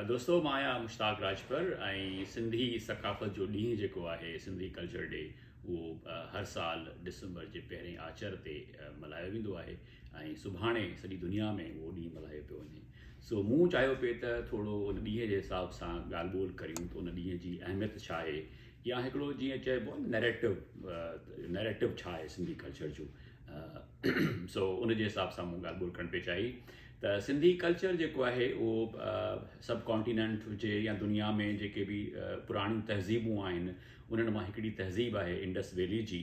دوستو مان آهيان مشتاق راجپر ۽ سنڌي ثقافت جو ڏينهن جيڪو آهي سنڌي ڪلچر ڊي اهو هر سال ڊسمبر جي پهرين آچر تي ملهايو ويندو آهي ۽ سڀاڻي سڄي دنيا ۾ اهو ڏينهن ملهايو پيو وڃي سو مون چاهيو پي ته ٿورو ان ڏينهن جي حساب سان ڳالهه ٻولهه ڪريون ته ان ڏينهن جي اهميت ڇا آهي يا هڪڙو جيئن چئبو نيريٽو نيريٽو ڇا آهي سنڌي ڪلچر جو سو ان جي حساب سان مون ڳالهه ٻولهه ڪرڻ پي چاهي ته سنڌي ڪلچر جيڪو آهي اهو سب ڪانٽيننٽ هجي يا دنيا ۾ جيڪي به پراڻيون تهذيبون آهن انهن مان هڪڙي تهذيب آهي انڊس ويلي جي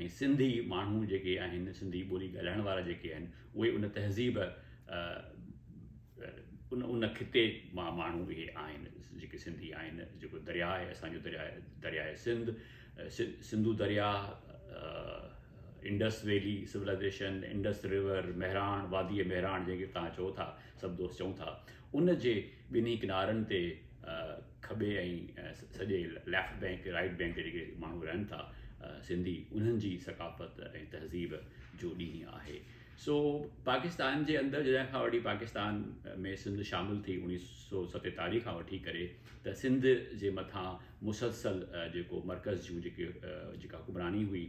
۽ سنڌي ماڻهو جيڪي آهن سنڌي ٻولي ڳالهائڻ وارا جيڪي آهن اهي ان تهذيب ان ان خطي مان ماڻهو اهي آهن جيڪي سنڌي آهن جيڪو درياء آهي اسان جو درياء درياء سنڌ سنڌو درياهه، Indus valley civilisation, Indus river, Mehran, واديء مهراڻ جنهن کي توهان چئو ٿا، سڀ دوست چئون ٿا، ان جي ٻنهي ڪنارن تي کٻي ۽ سڄي ليفٽ بئنڪ، رائيٽ بئنڪ تي جيڪي ماڻهو رهن ٿا سنڌي، انهن جي ثقافت ۽ تهذيب جو ڏينهن آهي. سو پاڪستان جي اندر جڏهن کان وٺي پاڪستان ۾ سنڌ شامل ٿي اڻيهه سو ستيتاليهه کان وٺي ڪري ته سنڌ جي مٿان مسلسل جيڪو مرڪز جون جيڪي جيڪا حڪمراني هئي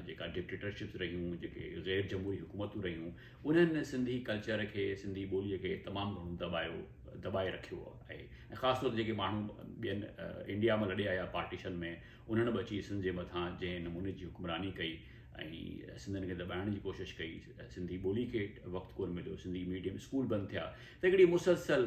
جيڪا ڊڪٽيٽرشپس رهيون جيڪي غير جمهوري حڪومتون رهيون انهن سنڌي ڪلچر کي سنڌي ٻوليء کي تمام گهڻو دٻايو دٻائي رکيو آهي ۽ خاص طور تي جيڪي ماڻهو ٻين انڊيا مان لڏي آيا پارٽيشن ۾ انهن به اچي سنڌ جي مٿان جنهن نموني جي حڪمراني ڪئي ۽ سنڌين کي دٻائڻ جي ڪوشش ڪئي سنڌي ٻولي کي وقت ڪونه مليو سنڌي ميڊيم اسڪول بند ٿيا ته هڪڙي مسلسل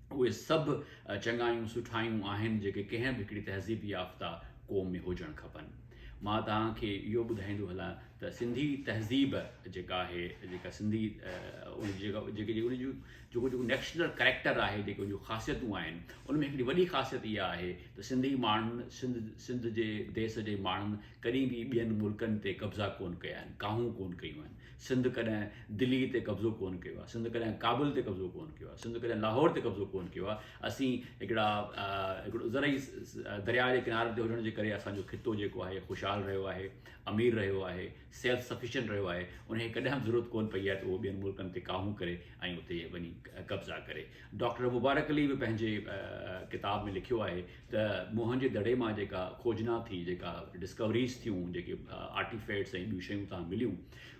اهي سڀ چڱايون سٺايون آهن جيڪي ڪنهن به هڪڙي تهذيب يافته قوم ۾ هجڻ کپن. مان توهان کي اهو ٻڌائيندو هلان ته سنڌي تهذيب جيڪا آهي جيڪا سنڌي ان جي جيڪا جيڪي جيڪي ان جون جيڪو جيڪو نيشنل ڪريڪٽر آهي جيڪي ان جون خاصيتون آهن ان ۾ هڪڙي وڏي خاصيت اها آهي ته سنڌي ماڻهن سنڌ سنڌ جي ديس جي ماڻهن ڪڏهن به ٻين ملڪن تي قبضا ڪونه ڪيا آهن ڪاهون ڪونه ڪيون آهن سنڌ ڪڏهن دلي تي قبضو ڪونه ڪيو آهي، سنڌ ڪڏهن ڪابل تي قبضو ڪونه ڪيو آهي، سنڌ ڪڏهن لاهور تي قبضو ڪونه ڪيو آهي، اسين هڪڙا هڪڙو زرعي درياء جي ڪنارن تي هجڻ جي ڪري اسان جو خطو جيڪو آهي خوشحال رهيو آهي، امير رهيو آهي، سيلف سفيشنٽ رهيو آهي، ان کي ڪڏهن به ضرورت ڪونه پئي آهي ته اهو ٻين ملڪن تي ڪاهون ڪري ۽ اتي وڃي قبضا ڪري. ڊاڪٽر مبارڪ علي به پنهنجي ڪتاب ۾ لکيو آهي ته موهن جي دڙي مان جيڪا کوجنا ٿي، جيڪا ڊسڪوريز ٿيون، جيڪي آرٽيفيٽس ۽ ٻيون شيون اتان مليون،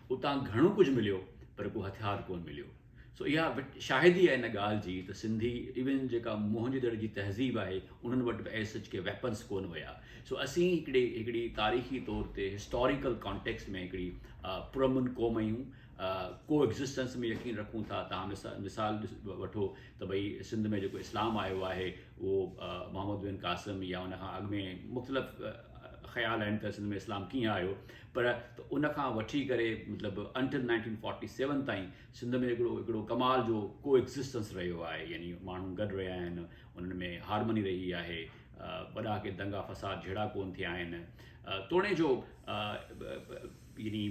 اتان گهڻو ڪجهه مليو پر ڪو هٿيار ڪونه مليو. سو اها شاهدي آهي ان ڳالهه جي ته سنڌي ايون جيڪا موهن جي دڙي جي تهذيب آهي، انهن وٽ به ايز سچ ڪي ويپنس ڪونه هيا. سو اسين هڪڙي هڪڙي تاريخي طور تي هسٽاريڪل ڪانٽيڪسٽ ۾ هڪڙي پرامن قوم آهيون، ڪو ايگزسٽنس ۾ يقين رکون ٿا. تهان مثال ڏس وٺو ته ڀئي سنڌ ۾ جيڪو اسلام آيو آهي، اهو محمد بن قاسم يا ان کان اڳ ۾ مختلف خيال آهن ته سنڌ ۾ اسلام ڪيئن آيو پر ته ان کان وٺي ڪري مطلب انٽل نائنٽين فورٽي سيون تائين سنڌ ۾ هڪڙو هڪڙو ڪمال جو ڪو ايگزسٽنس رهيو آهي يعني ماڻهو گڏ رهيا آهن انهن ۾ هارمني رهي آهي وڏا ڪي دنگا فساد جهيڙا ڪون ٿيا آهن توڻي جو يعني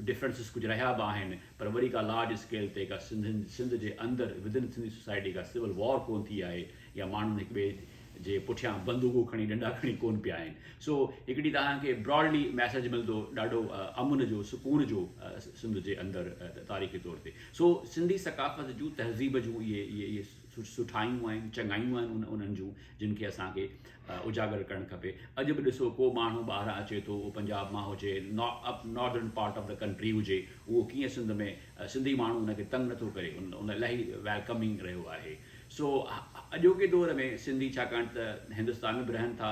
ڊفرنسز ڪجهه رهيا به آهن پر وڏي ڪا لارج اسڪيل تي ڪا سنڌ جي اندر ودن سنڌي سوسائٽي ڪا سول وار ڪون ٿي آهي يا ماڻهن هڪ ٻئي جي پٺيان بندوقون کڻي ڏنڊا کڻي ڪون پيا آهن سو هڪڙي توهان کي براڊلي ميسيج ملندو ڏاڍو امن جو سڪون جو سنڌ جي اندر تاريخي طور تي سو سنڌي ثقافت جون تهذيب جون اهي اهي سٺايون آهن چڱايون آهن انهن جون جن کي اسان کي اجاگر ڪرڻ کپي اڄ به ڏسو ڪو ماڻهو ٻاهران اچي ٿو اهو پنجاب مان هجي northern part of the country هجي اهو ڪيئن سنڌ ۾ سنڌي ماڻهو ان کي تنگ نٿو ڪري ان ان الاهي ويلڪمنگ رهيو آهي سو اڄوڪي دور ۾ سنڌي ڇاڪاڻ ته هندستان ۾ به رهن ٿا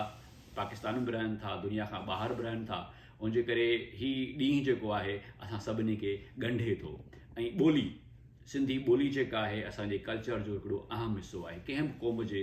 پاڪستان ۾ به رهن ٿا دنيا کان ٻاهر به رهن ٿا ان جي ڪري هي ڏينهن جيڪو آهي اسان سڀني کي ڳنڍي ٿو ۽ ٻولي سنڌي ٻولي جيڪا آهي اسانجي ڪلچر جو هڪڙو اهم حصو آهي ڪنهن به قوم جي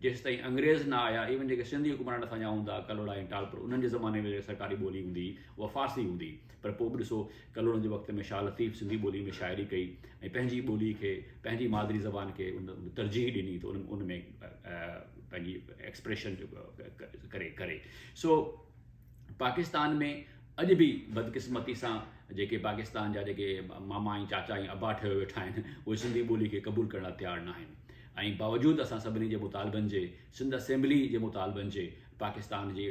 جيستائين انگريز نه آيا ايون جيڪي سنڌي حڪمران اٿا ڃا هوندا ڪلهوڙا ۽ ٽالپر انهن جي زماني ۾ سرڪاري ٻولي هوندي هئي اها فارسي هوندي پر پوء به ڏسو ڪلهوڙن جي وقت ۾ شاهه لطيف سنڌي ٻولي ۾ شاعري ڪئي ۽ پنهنجي ٻولي کي پنهنجي مادري زبان کي ان ترجيح ڏني ته ان ان ۾ پنهنجي ايڪسپريشن ڪري ڪري سو پاڪستان ۾ اڄ به بدقسمتي سان جيڪي پاڪستان جا جيڪي ماما ۽ چاچا ۽ ابا ٺهيو ويٺا آهن اهي سنڌي ٻولي کي قبول ڪرڻ لاء تيار نه آهن ۽ باوجود اسان سڀني جي مطالبن جي سنڌ اسيمبلي جي مطالبن جي پاڪستان جي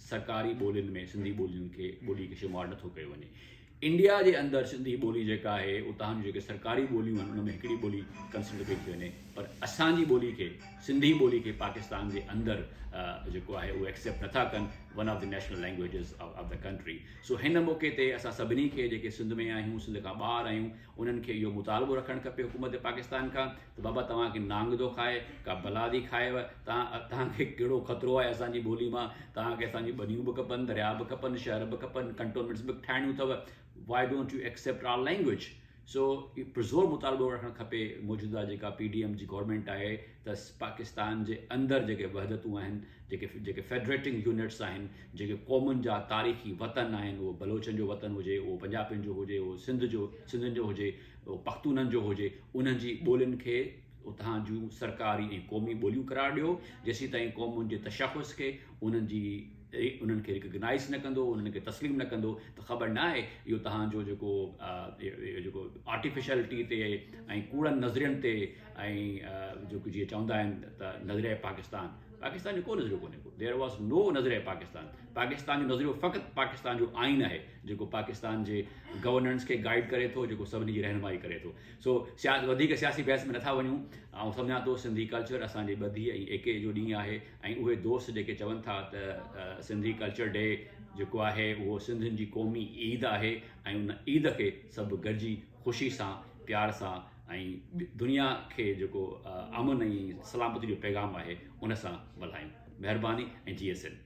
سرڪاري ٻولين ۾ سنڌي ٻولين کي ٻولي کي شمار نٿو ڪيو وڃي انڊيا جي اندر سنڌي ٻولي جيڪا آهي اتان جون جيڪي سرڪاري ٻوليون آهن ان ۾ هڪڙي ٻولي ڪنسڊر ڪئي ٿي وڃي پر اسان جي ٻولي کي سنڌي ٻولي کي پاڪستان جي اندر جيڪو آهي اهو ايڪسيپٽ نٿا ڪن one of the national languages of the country سو هن موقعي تي اسان سڀني کي جيڪي سنڌ ۾ آهيون سنڌ کان ٻاهر آهيون انهن کي اهو مطالبو رکڻ کپي حڪومت پاڪستان کان ته بابا توهان کي نانگ ٿو کائي، ڪا بلا ٿي کائيو، توهان توهان کي ڪهڙو خطرو آهي اسان جي ٻولي مان، توهان کي اسان جون ٻنيون به کپن، درياء به کپن، شهر به کپن، ڪنٽونمينٽس به ٺاهڻيون اٿو، why don't you accept our language? سو هي پرزور مطالبو رکڻ کپي، موجوده جيڪا پي ڊي ايم جي گورنمينٽ آهي ته پاڪستان جي اندر جيڪي وحدتون آهن، جيڪي جيڪي فيڊريٽنگ يونٽس آهن، جيڪي قومن جا تاريخي وطن آهن، اهو بلوچن جو وطن هجي، اهو پنجابين جو هجي، اهو سنڌ جو سنڌين جو هجي، اهو پختونن جو هجي، انهن جي ٻولين کي اتان جون سرڪاري ۽ قومي ٻوليون قرار ڏيو، جيسيتائين قومن جي تشخص کي انهن جي انهن کي ريڪگنائيز نه ڪندو، انهن کي تسليم نه ڪندو ته خبر نه آهي اهو تهان جو جيڪو اهو جيڪو آرٽيفيشلٽي تي ۽ ڪوڙن نظرين تي ۽ جيڪو جيئن چوندا آهن ته نظريه پاڪستان پاڪستان جو ڪو نظريو ڪونهي ڪو ديئر واز نو نظريه پاڪستان پاڪستان جو نظريو فقط پاڪستان جو آئين آهي. جيڪو پاڪستان جي گورننس کي گائيڊ ڪري ٿو جيڪو سڀني جي رهنمائي ڪري ٿو سو سياست وڌيڪ سياسي بحث ۾ نٿا وڃون آئون سمجهان ٿو سنڌي ڪلچر اسان جي ٻڌي ۽ ايڪي جو ڏينهن آهي ۽ اهي دوست جيڪي چون ٿا ته سنڌي ڪلچر ڊي جيڪو آهي اهو سنڌين جي قومي عيد آهي ۽ ان عيد کي سڀ گڏجي خوشي سان پيار سان ۽ دنيا کي جيڪو امن ۽ سلامتي جو پيغام آهي ان سان ملهايون مهرباني ۽ جي ايس سنڌ